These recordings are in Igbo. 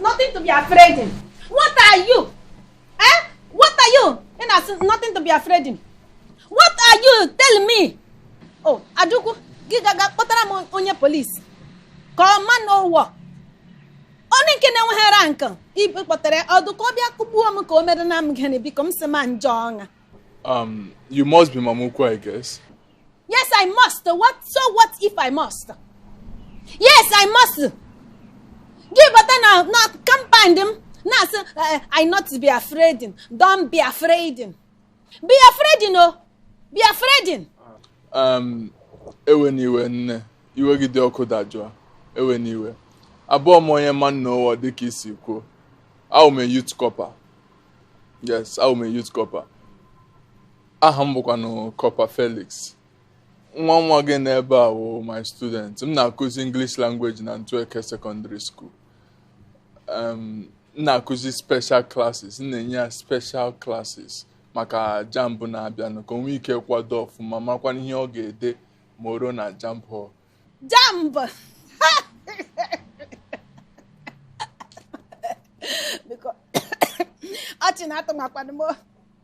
nothing to be afraid in what are you eh what are you ị na-asị nothing to be afraid in what are you tell me oh Adukwu gị gaga kpọtara m onye polisi ka ọ Man O' War onye nke na-enweghị rank ibe kpọtara ọdụ ka ọ bịa kụgbuo m ka o mere na m gịnị biko m si ma njọ ọṅa Um, you must be Mama Ukwu, I guess. Yes, I must. What, so what if I must? Yes, I must. Gị bata na na compound m na-asị eh, I not be afraid. Don't be afraid. Be afraid o. Be afraid. Um, ewena iwe nne iwe gị dị ọkụ dajụọ ewena iwe abụrọ m onye Man O' War dịka i si kwuo awụ m a youth corper yes awụ m a youth corper aha m bụkwanụ Corper Felix nwa nwa gị n'ebe a wụ my student m na-akụzi English language na Ntueke Secondary School um, m na-akụzi special classes m na-enye ya special classes maka JAMB na-abịanụ ka o nwee ike kwado ọfụma makwana ihe ọ ga-ede ma o ruo na JAMB hall JAMB biko ọchị na-atọwakwanụ m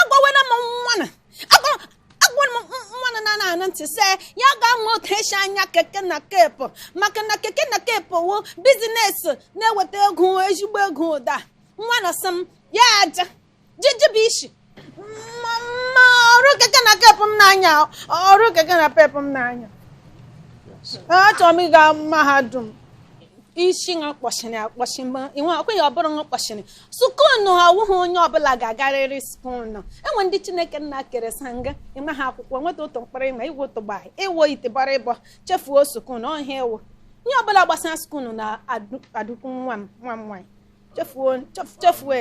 agwawena m nwana agwara m nwana na na anụ ntị sị ya gaa mụọ otu e si anya keke na kepu maka na keke na kepu wụ business na-eweta ego ezigbo ego ụda nwana sị m ya aja jijibụ isi mama ọrụ keke na kepu m n'anya ọrụ keke na pepu m n'anya achọrọ m ịga mahadum isi ṅa kpọchiri akpọchi ma ịnwe ọkweghị ụbụrụ ṅa kpọchiri sukunu awụghị onye ọbụla ga-agarịrị sukunu e nwe ndị Chineke Nna kere sanga ịma ha akwụkwọ nweta otu mkpụrụ ịma iwe otu gbaa ị wụ itiboribo chefuo sukunu ọhịa ewu ihe ọbụla gbasara sukunu na Adukwu nwa m nwa m nwaanyị chefuo chefuo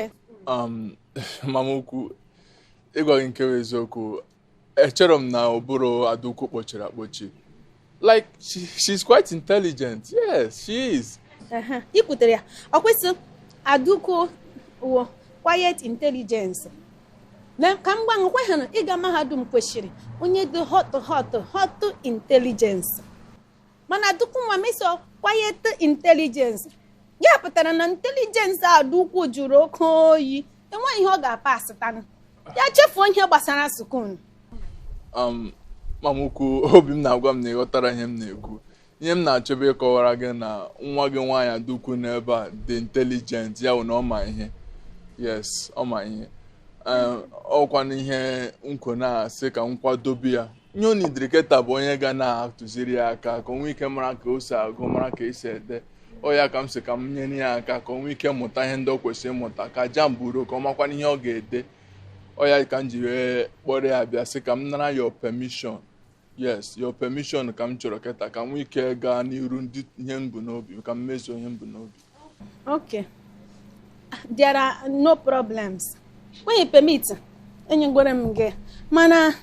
um, mama ukwu ịgwa gị nke bụ eziokwu echerọ m na ụbụrụ Adukwu kpọchiri akpọchi like she, she's quite intelligent yes she is Ehe, i kwutere ya ọ kwa ị sị Adukwu wụ quiet intelligence na ka m gwa gị kweghị na ịga mahadum kwesịrị onye dị hot hot hot intelligence mana Adukwu nwa m ị sị wụ quiet intelligence ya pụtara na intelligence Adukwu jụrụ oke oyi enweghị ihe ọ ga-apasịtanụ ya chefuo ihe gbasara sukunu um, mama ukwu obi m na-agwa m na ị ghọtara ihe m na-ekwu ihe m na-achọbe ịkọwara gị na nwa gị nwaanyị Adukwu n'ebe a dị intelligent ya wụ na ọ ma ihe yes ọ ma ihe ọ wụkwanụ ihe m kwo na-asị ka m kwadobe ya nye onye idiriketa bụ onye ga na-atụziri ya aka ka o nwee ike mara ka o si agụ mara ka esi ede ọ ya ka m sị ka m nyere ya aka ka o nwee ike mụta ihe ndị o kwesịrị ịmụta ka JAMB ruo ka ọ makwana ihe ọ ga-ede ọ ya ka m ji wee kpọrọ ya bịa sị ka m nara your permission yes your permission ka m chọrọ keta ka m nwee ike gaa n'iru ndị ihe m bu n'obi ka m mezuo ihe m bu n'obi Okay. There are no problems. When you permit, enye gwara m gị mana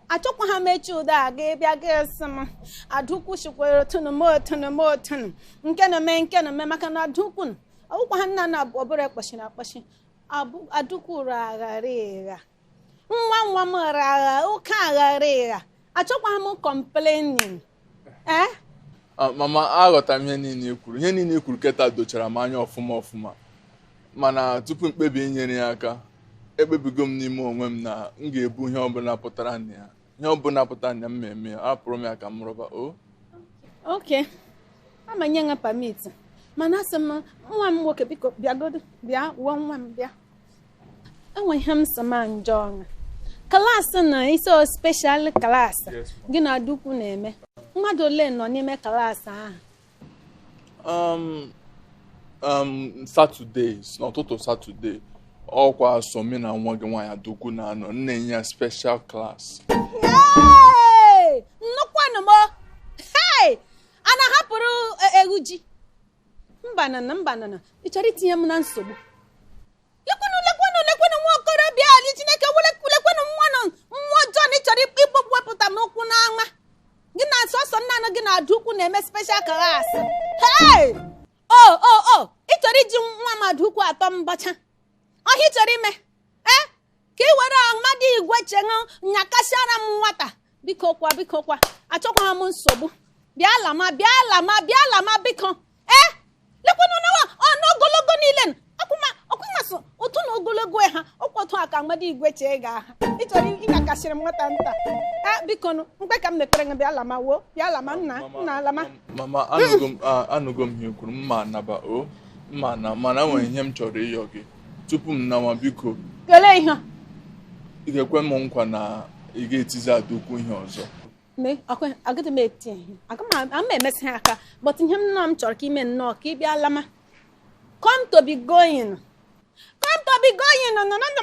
achọkwaha m echi ụda a ga bịa ga-asị m Adaukwu shikwere otu nụ mee otu nụ mee otu nụ nke nụ mee nke nụ mee maka na Adaukwu ọ wụkwaha nna na ọbụla kpasịrị akpasị Adaukwu ụra aghara ịgha nwa nwa m ghara agha ụka aghara ịgha achọkwaha m complaining eh Ah, mama aghọtara m ihe niile i kwuru ihe niile i kwuru keta dochara m anya ọfụma ọfụma mana tupu m kpebie inyere ya aka ekpebigo m n'ime onwe m na m ga-ebu ihe ọbụla pụtara na ya ihe ọbụla pụtara na ya m eme ya hapụrụ m ya ka m rụba o ok ama nye gị permit mana asị m nwa m nwoke biko bịagodo bịa wuo nwa m bịa enwe ihe m sị ma m jụọ ọṅụ klaasị na ị sị ọ speshal klaasị gị na Adaukwu na-eme mmadụ ole nọ n'ime klaasị ahụ um um satọde n'ụtụtụ satọde ọkwa sọ mụ na nwa gị nwaanyị Adaukwu na-anọ n'ime ya speshal klaasị Hey! nnukwu anụmọ hey! a na-ahapụrụ e- ewu ji mba nna mba nna ị chọrọ itinye m na nsogbu lekwenụ lekwenụ lekwenụ nwa okorobịa ali chineke lekwenụ nwa nọ nwa ọjọọ na ị chọrọ ịkpọpụ wepụta m ụkwụ n'ama gị na sọsọ naanị gị na Adaukwu na-eme special class hey o o o ị chọrọ iji nwa m Adaukwu atọ mbacha ọ ihe ị chọrọ ime ee ka ị were amadi igwe cheṅụ nyakasịara m nwata biko kwa biko kwa achọkwaha m nsogbu bịa lama bịa lama bịa lama biko ee lekwanụ nwa nụ ogologo niile n- ọkwụma ọkwụma sị otu na ogologo ha ọkwa otu a ka amadi igwe chee ga-aha ị chọrọ ịnyakasịrị m nwata nta ee biko nụ mkpe ka m na-ekpere gị bịa lama wo bịa lama nna nna lama mama anụgo m a- anụgo m ihe i kwuru m ma-anaba o m ma-ana mana o nwere ihe m chọrọ ịyọ gị tupu m nawa biko kelee ihe ị ga-ekwe m nkwa na ị ga-etizi Adaukwu ihe ọzọ agaghị m eti ihe ama m emezi ya aka but ihe m nọ m chọrọ ka i mee nnọọ ka ị bịa lama come to be going come to be going no no no no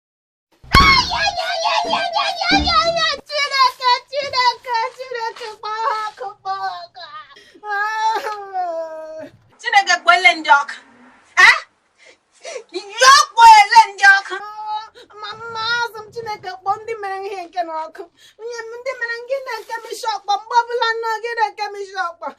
Chineke kpọle ndị ọka ya kpọle ndị ọka mama azụ m Chineke kpọọ ndị mere ihe nke n'ọkụ onye ndị mere ngị na-eke m ishi ọkpọ mgbe ọbụla nọ gị na-eke m ishi ọkpọ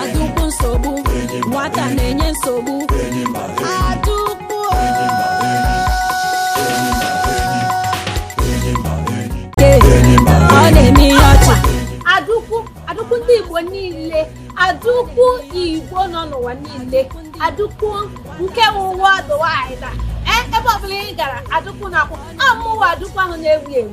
adụkwu nsogbu nwata na-enye nsogbu adụkwu ọ na-eme ihe ọchị adụkwu adụkwu ndị igbo niile adụkwu igbo nọ n'ụwa niile adụkwu nke worldwide na ebe ọbụla ị gara adụkwu na-akwụ amụwa adụkwu ahụ na-ewu ewu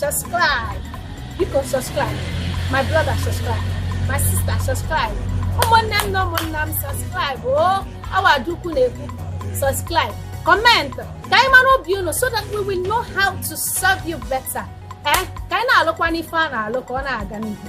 subscribe biko subscribe my brother subscribe my sister subscribe ụmụnne m na ụmụnna m subscribe o oh, ọ wụ adụkwu na-ekwu subscribe comment ka anyị mara obi unu so that we will know how to serve you better ee eh, ka anyị na-alụkwanụ ife a na-alụ ka ọ na-aga n'ihu